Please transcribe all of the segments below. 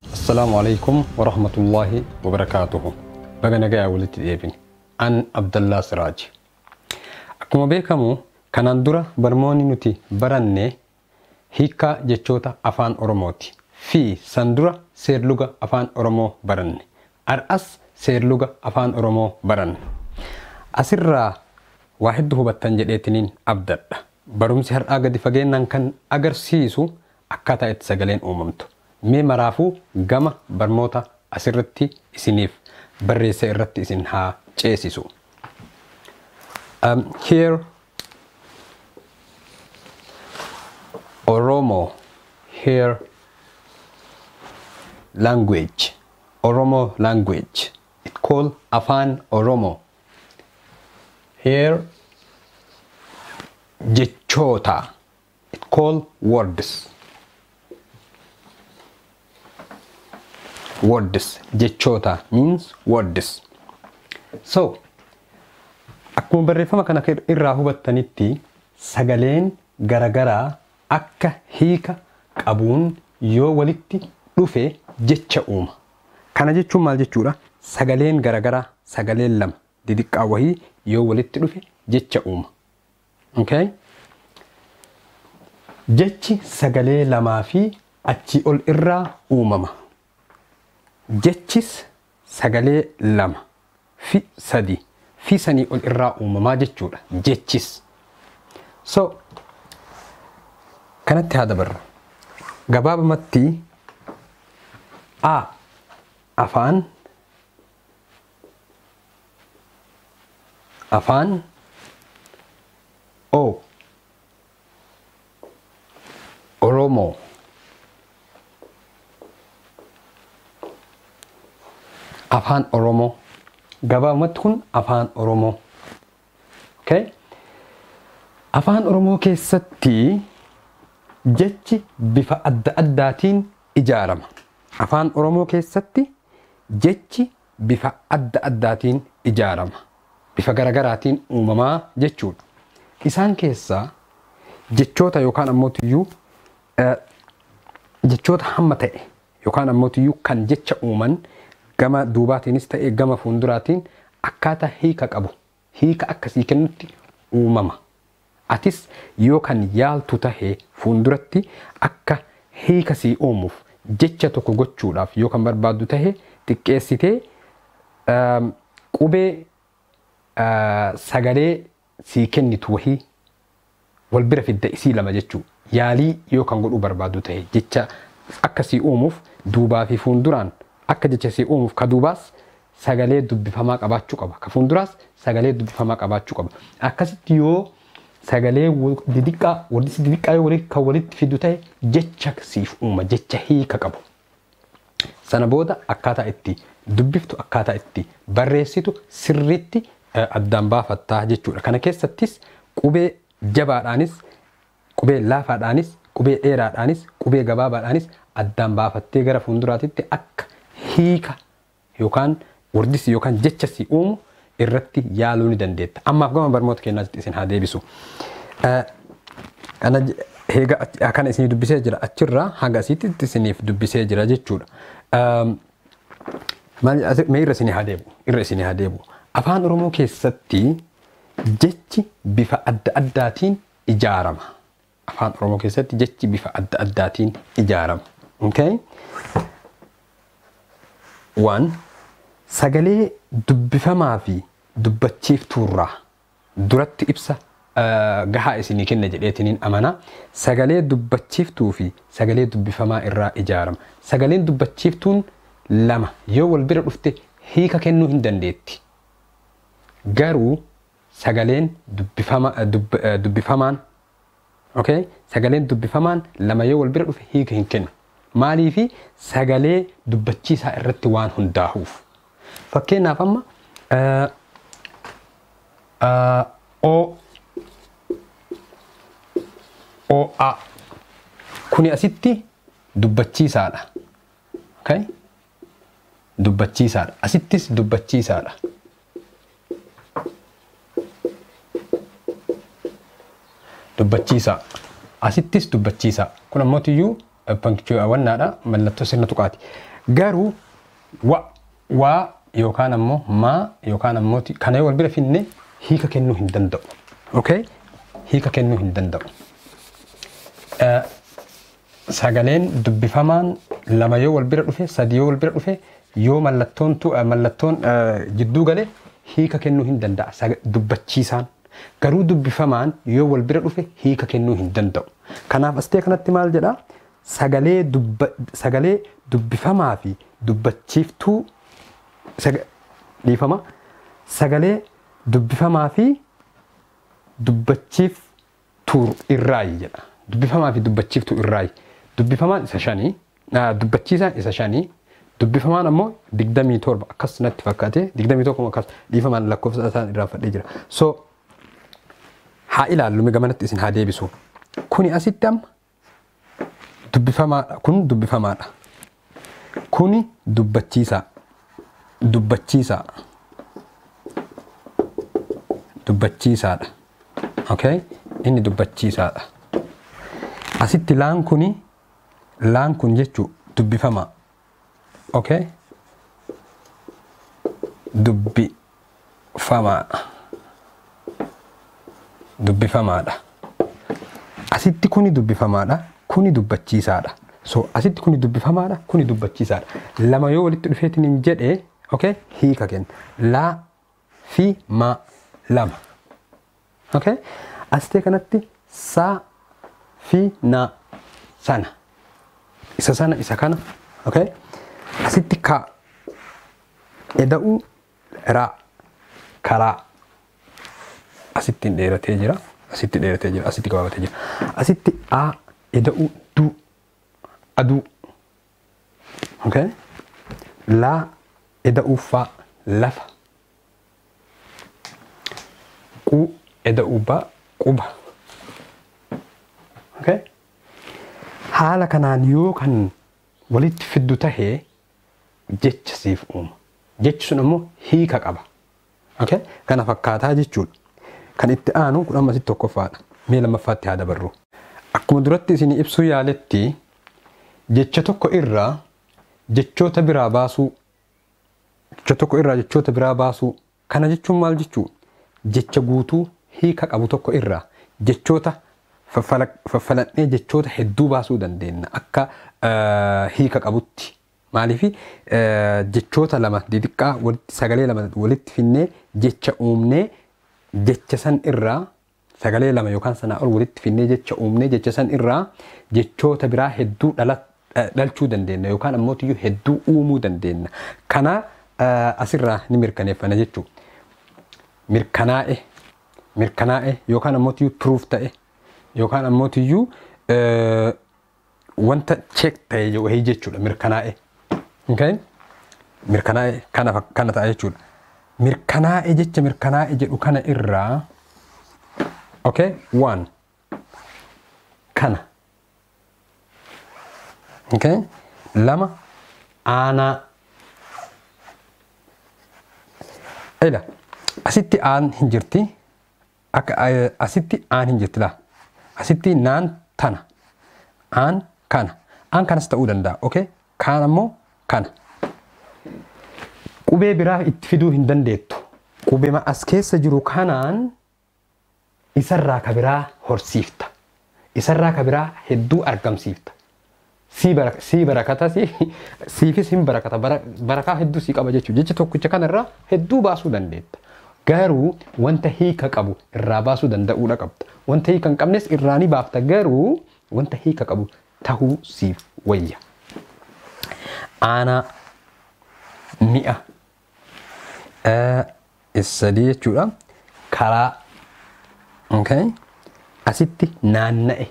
Assalaamu Aleykum Warahmatullaahi Wabarakaatuhu Baga nagaya walitti deebine An Abdallaa Siraaji Akkuma beekamu kanaan dura barmoonni nuti baranne hiikkaa jechoota afaan oromooti fi san dura seerluga afaan oromoo baranne ar'as seerluga afaan oromoo baranna asirraa waa heddu hubattan jedheetiniin abdadha barumsi har'aa gadi fageennaan kan agarsiisu akkaataa itti sagaleen uumamtu mee maraafuu gama barmoota asirratti isiniif barreesse irratti isin haa ceesisu. Um, here Oromo here language Oromo language it called Afaan Oromo here jechoota it call words words jechoota means words so akkuma barreeffama kana irraa hubattanitti sagaleen garagaraa akka hiika qabuun yoo walitti dhufe jecha uuma kana jechuun maal jechuudha sagaleen garagaraa sagaleen lama didiqqaa wahii yoo walitti dhufe jecha uuma Okay? Jechi sagalee lamaa fi achii ol irraa uumama. Jechis sagalee lama fi sadi fi sanii ol irraa uumamaa jechuudha. Jechis. So, kanatti haa dabarru. Gabaabamatti A afaan afaan o oromoo afaan oromoo gabaabumatti kun afaan oromoo Okay? Afaan Oromoo keessatti jechi bifa adda addaatiin ijaarama. Afaan Oromoo keessatti jechi bifa adda addaatiin ijaarama. Bifa garagaraatiin uumamaa jechuudha. Isaan keessaa jechoota yookaan ammoo tuyyuu jechoota hamma ta'e Yookaan ammootiyyuu kan jecha uuman gama duubaatiinis ta'ee gama fuunduraatiin akkaataa hiika qabu hiika akka sii kennutti uumama. Atis yoo kan yaaltu tahe fuunduratti akka hiika sii uumuuf jecha tokko gochuudhaaf yoo kan barbaaddu tahe xiqqeessitee qubee sagalee sii kennitu wahii wal bira fidda isii lama jechuu yaalii yoo kan godhuu barbaaddu tahe jecha akka sii uumuuf duubaa fi fuunduraan akka jecha sii uumuuf ka duubaas sagalee dubbifamaa qabaachuu qaba ka fuunduraas sagalee dubbifamaa qabaachuu qaba akkasitti yoo sagalee didiqqaa walitti didiqqaa yoo kan walitti fiddu tahe jecha siif uuma jecha hiika qabu Sana booda akkaataa itti dubbiftu, akkaataa itti barreessitu sirriitti addaan baafatta jechuudha. Kana keessattis qubee jabaadhaanis, qubee laafaadhaanis, qubee dheeraadhaanis, qubee gabaabaadhaanis addaan baafattee gara fuulduraatitti akka hiika yookaan wordis yookaan jecha si uumu irratti yaaluu ni dandeetta. Ammaaf gama barmoota keenyaatti isin haa deebisu. Kana heega kana isinii dubbisee jira achirraa hanga asiitti isiniif dubbisee jira jechuudha. Mee irra isinii haa deebi'u. Irra isinii haa deebi'u. Afaan Oromoo keessatti jechi bifa adda addaatiin ijaarama. Afaan Oromoo keessatti jechi bifa adda addaatiin ijaarama. Okay? One, sagalee dubbifamaa fi dubbachiiftuurraa duratti ibsa eh, gahaa isinii kenna jedheetiniin amana. Sagalee dubbachiiftuu fi sagalee dubbifamaa irraa ijaarama. Sagaleen dubbachiiftuun lama yoo wal bira dhufte hiika kennuu hin dandeetti. Garuu sagaleen dubbifama dubb dubbifamaan okay sagaleen dubbifamaan lama yoo wal bira dhufe hiika hin kennu maaliifi sagalee dubbachiisaa irratti waan hundaahuuf fakkeenyaaf amma eh, eh, o o a kuni asitti dubbachiisaadha okay dubbachiisaadha. Asittis dubbachiisaadha. Dubbachiisaa. Asittis dubbachiisaa. Kun ammoo tiyyuu wannaadha mallattoo sirna tuqaati. Garuu wa waa yookaan ammoo maa yookaan ammoo kana yoo wal bira finne hiika kennuu hin danda'u. Okay? Hiika kennuu hin danda'u. Sagaleen dubbifamaan lama yoo wal bira dhufe, sadi yoo wal bira dhufe, yoo mallattoon tu, mallattoon jidduu gale hiika kennuu hin danda'a saga, dubbachiisaan. Garuu dubbifamaan yoo wal bira dhufe hiika kennuu hin danda'u. Kanaaf astee kanatti maal jedha? Sagalee, dubba, sagalee dubbifamaa fi dubbachiiftuu saga, dhiifama, sagalee dubbifamaa fi dubbachiif, tuur irraayi jedha. Dubbifamaa fi dubbachiiftuu irraayi. Dubbifamaan isa shani, dubbachiisaan isa shani, dubbifamaan ammoo 27 akkas natti fakkaate 21 akkas dhiifamaan lakkoofsa isaan irraanfadhee jira. So haa ilaallu gamanatti isin haa deebisu. Kuni asitti amma dubbifamaadha kun dubbifamaadha kuni dubbachiisaa dubbachiisaa dubbachiisaadha okay inni dubbachiisaadha asitti laan kuni laan kun jechuu dubbifamaa okay dubbifamaa dubbifamaadha asitti kuni dubbifamaadha kuni dubbachiisaadha so asitti kuni dubbifamaadha kuni dubbachiisaadha lama yoo walitti dhufeetiin hin jedhe okay hiika kenna laa fi maa lama Okay? Asitee kanatti saa fi naa sana. Isa sana isa kana. Okay? Asitti kaa. Eda'uu raa. Karaa. Asitti hin dheeratee jira. Asitti dheeratee jira. Asitti gabaabatee jira. Asitti aa eda'uu duu. Aduu. Okay? Laa eda'uu faa lafa. Qu eda uba quba. Okay? Haala kanaan yoo kan walitti fiddu tahe jecha siif uuma. Jechi sun ammoo hiika qaba. Okay? Kana fakkaataa jechuudha. Kan itti aanu kun amma asitti tokkoffaadha. Mee lammaffaatti haa dabarru. Akkuma duratti isin ibsuu yaaletti jecha tokko irraa jechoota biraa baasuu Jecha tokko irraa jechoota biraa baasuu. Kana jechuun maal jechuu? Jecha guutuu hiika qabu tokko irraa jechoota faffaladhee jechoota hedduu baasuu dandeenna akka hiika qabutti. Maaliif jechoota lama didiqqaa sagalee lama walitti finnee jecha uumnee jecha san irraa Sagalee lama yookaan sanaa ol walitti fidnee jecha uumnee jecha san irraa jechoota biraa hedduu dhala, eh, dhalchuu dandeenna yookaan ammootiyyuu hedduu uumuu dandeenna. Kana eh, asirraa ni mirkaneeffana jechuudha. mirkanaa'e mirkanaa'e yookaan ammootiyyuu proof ta'e yookaan ammootiyyuu eh, wanta check ta'e wahii jechuudha mirkanaa'e. Okay? Mirkanaa'e kana fak- kana ta'a jechuudha. Mirkanaa'e jecha mirkanaa'e jedhu kana irraa okay? waan kana okay? lama aanaa ila asitti aan hin jirti Akka asitti aan hin jirti laa. Asitti naan tana. Aan kana. Aan kanas ta'uu danda'a. Okay? Kaan ammoo kana. Qubee biraa itti fiduu hin dandeettu. Qubema as keessa jiru kanaan isarraa ka biraa horsiifta. Isarraa ka biraa hedduu argamsiifta. sii bara sii barakata sii siifis hin barakata bara barakaa hedduu sii qaba jechuudha jecha tokkicha kanarraa hedduu baasuu dandeetta garuu wanta hiika qabu irraa baasuu danda'uudha qabda wanta hiika hin qabnes irraa ni baafta garuu wanta hiika qabu tahuu siif wayya aanaa mi'a sadii jechuudha karaa okay. asitti naanna'e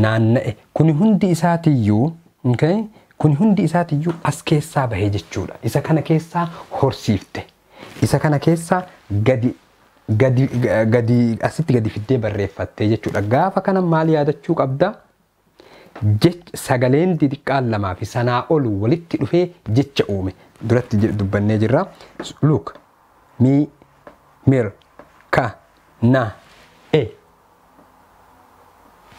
naanna'e kuni hundi isaatiyyuu okay. kuni hundi isaatiyyuu as keessaa bahe jechuudha isa kana keessaa horsiifte isa kana keessaa gadi gadi gadi asitti gadi fiddee barreeffattee jechuudha gaafa kana maal yaadachuu qabda Jech, sagaleen didiqqaan lamaa fi sanaa ol walitti dhufee jecha uume. Duratti je, dubbannee jirra. Look, mi, mir, ka, na, e,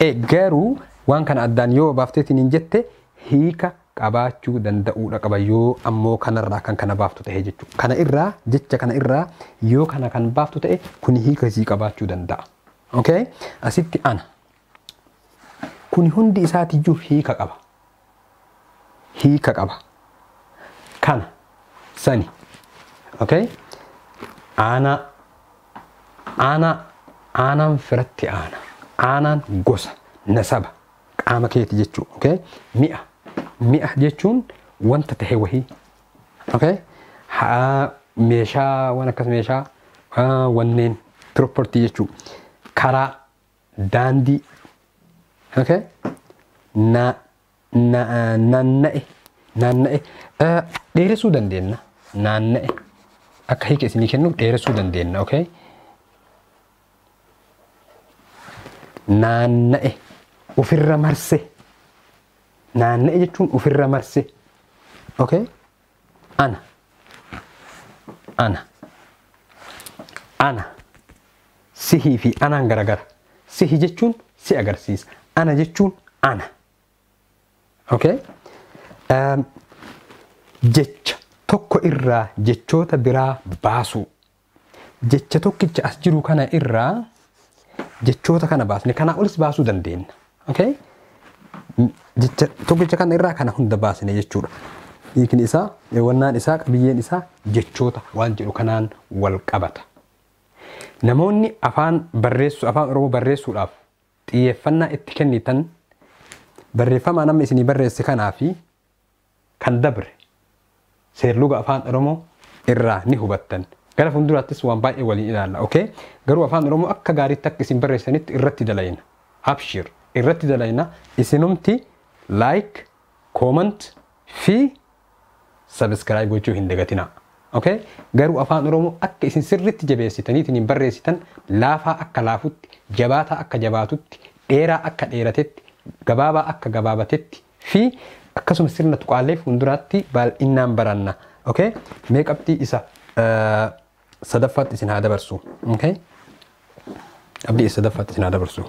e. Garuu waan kana addaan yoo baafteetiin hin jette hiika qabaachuu danda'uudha qaba yoo ammoo kanarraa kan kana baaftu ta'e jechuudha. Kana irraa jecha kana irraa yoo kana kan baaftu ta'e kuni hiika isii qabaachuu danda'a. Okay? Asitti ana. Kuni hundi isaatiyyuu hiika qaba. Hiika qaba. Kana, sani. Okay? Aanaa, aanaa, aanaan firatti aana. Aanaan gosa, nasaba, qaama keeti jechuu. Okay? Mi'a, mi'a jechuun wanta tahe wahii. Okay? Haa, meeshaa, waan akkas meeshaa, haa, wanneen, property jechuu. Karaa, daandii okay na na naanna'e naanna'e Eh, dheeressuu dandeenya naanna'e akka hiika isinii kennuuf dheeressuu dandeenya okay naanna'e ofirra marse naanna'e jechuun ofirra marse okay ana ana ana sihii fi anaan garagara sihi jechuun si agarsiisa ana jechuun ana okay um, jecha tokko irraa jechoota biraa baasuu jecha tokkicha as jiru kana irraa jechoota kana baasne kanaa olis baasuu dandeenya. Okay? Jecha tokkicha kana irraa kana hunda baasne jechuudha. Hiikni isaa, wannaan isaa, qabiyyeen isaa jechoota waan jedhu kanaan wal qabata. Namoonni afaan barreessuu, afaan Oromoo barreessuudhaaf xiyyeeffannaa itti kennitan barreeffamaan amma isinii barreesse kanaa fi kan dabre seerluga afaan oromoo irraa ni hubattan gara fuulduraattis waan baay'ee waliin ilaalla ok garuu afaan oromoo akka gaariitti akka isin barreessanitti irratti dalayna abshir irratti dalayna isinumti like comment fi subscribe gochuu hin dagatinaa ok garuu afaan oromoo akka isin sirritti jabeessitaniitiin hin barreessitan laafaa akka laafutti jabaataa akka jabaatutti dheeraa akka dheeratetti gabaabaa akka gabaabatetti fi akkasuma sirna tuqaalee fuulduraatti baay'inaan baranna. Okay? Mee qabxii isa sadaffaatti isin haa dabarsu. Okay? Qabxii isa sadaffaatti isin haa dabarsu.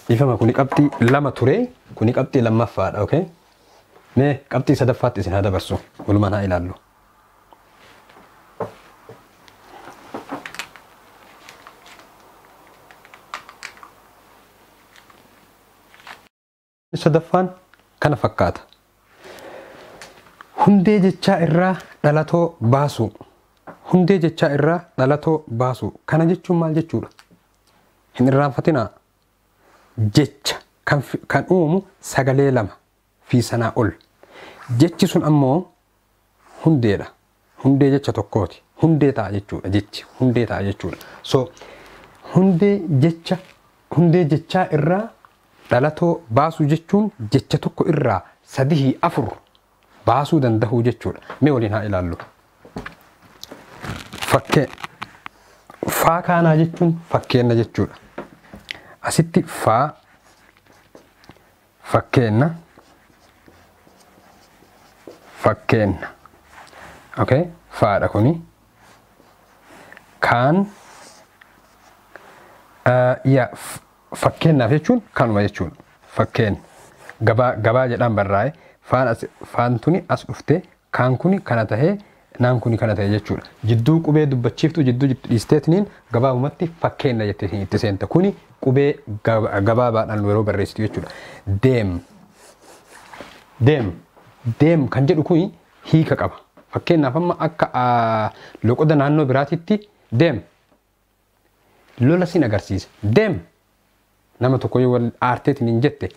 Dhiifama kuni qabxii lama ture kuni qabxii lammaffaadha. Okay? Mee qabxii sadaffaatti isin haa dabarsu. Walumaan haa ilaallu. sadaffaan kana fakkaata. Hundee jechaa irraa dhalatoo baasuu. Hundee jechaa irraa dhalatoo baasuu. Kana jechuun maal jechuudha? Hin irraanfatinaa. Jecha kan, kan uumu sagalee lama. fi sanaa ol. Jechi sun ammoo hundeedha. Hundee jecha tokkooti. Hundee ta'a jechuudha jechi. Hundee ta'a jechuudha. So hundee jecha hundee jechaa irraa dhalatoo baasuu jechuun jecha tokko irraa sadihii afur baasuu dandahuu jechuudha. Mee waliin haa ilaallu. Fakkee faa kaanaa jechuun fakkeenna jechuudha. Asitti faa Fakkeenna Fakkeenna okay faadha kuni kaan uh, ya f- fakkeennaaf jechuun kanuma jechuun fakkeen gabaa gabaa jedhaan barraa'e faan as faan tuni as dhufte kaan kuni kana tahee naan kuni kana ta'e jechuudha. Jidduu qubee dubbachiiftuu jidduu jirtu dhiisteetiniin gabaabumatti fakkeenna jetteetiin itti seenta. Kuni qubee gabaabaadhaan yeroo barreessitu jechuudha. Deem. Deem. Deem kan jedhu kuni hiika qaba. Fakkeenyaaf amma akka loqoda naannoo biraatitti deem. Lola sin agarsiisa. Deem. Nama tokko yoo wal aarteetiin hin jette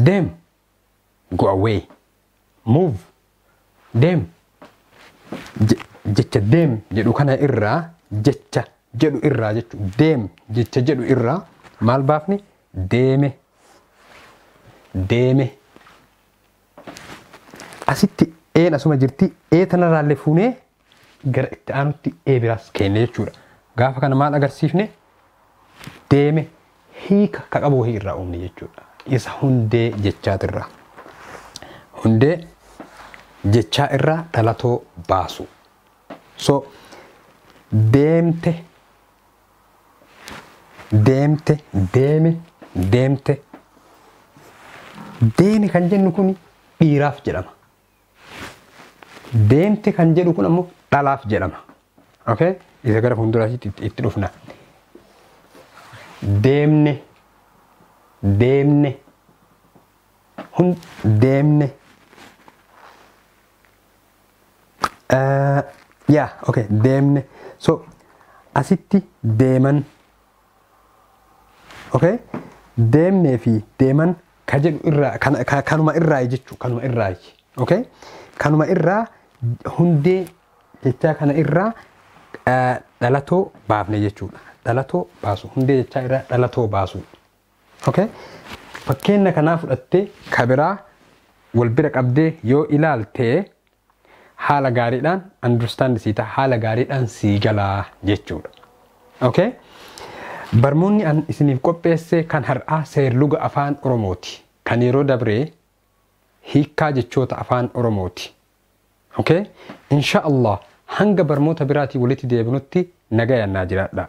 deem. go away move deem Je- jecha deem jedhu kana irraa jecha jedhu irraa jechu deem jecha jedhu irraa maal baafne deeme deeme asitti een asuma jirti ee tanarraallee fuunee gara itti aanutti A biraas keenne jechuudha. Gaafa kana maal agarsiifne? Deeme hiika ka qabu wahii irraa uumne jechuudha. Isa hundee jechaatirraa. Hundee jechaa irraa dhalatoo baasu. So deemte deemte deeme deemte deeme kan jennu kun dhiiraaf jedhama. Deemte kan jedhu kun ammoo dhalaaf jedhama. Okay? Isa gara fuulduraatti itti- itti dhufna. Deemne. Deemne. Hun deemne. Eh, Yaa, okay, deemne. So, asitti deeman okay deemnee fi deeman ka jedhu irraa kan- ka- kanuma irraa jechuu kanuma irraa okay kanuma irraa hundee jechaa kana irraa eh, dhalatoo baafne jechuudha dhalatoo baasu hundee jechaa irraa dhalatoo baasu okay fakkeenya kanaa fudhattee ka biraa wal bira qabdee yoo ilaaltee haala gaariidhaan understand sii ta'a haala gaariidhaan sii galaa jechuudha. Okay? Barmoonni an isiniif qopheesse kan har'aa seerluga afaan Oromooti. Kan yeroo dabree hiikkaa jechoota afaan Oromooti. Okay? Insha Allah hanga barmoota biraatii walitti deebinutti nagayaan naa jiraadhaa.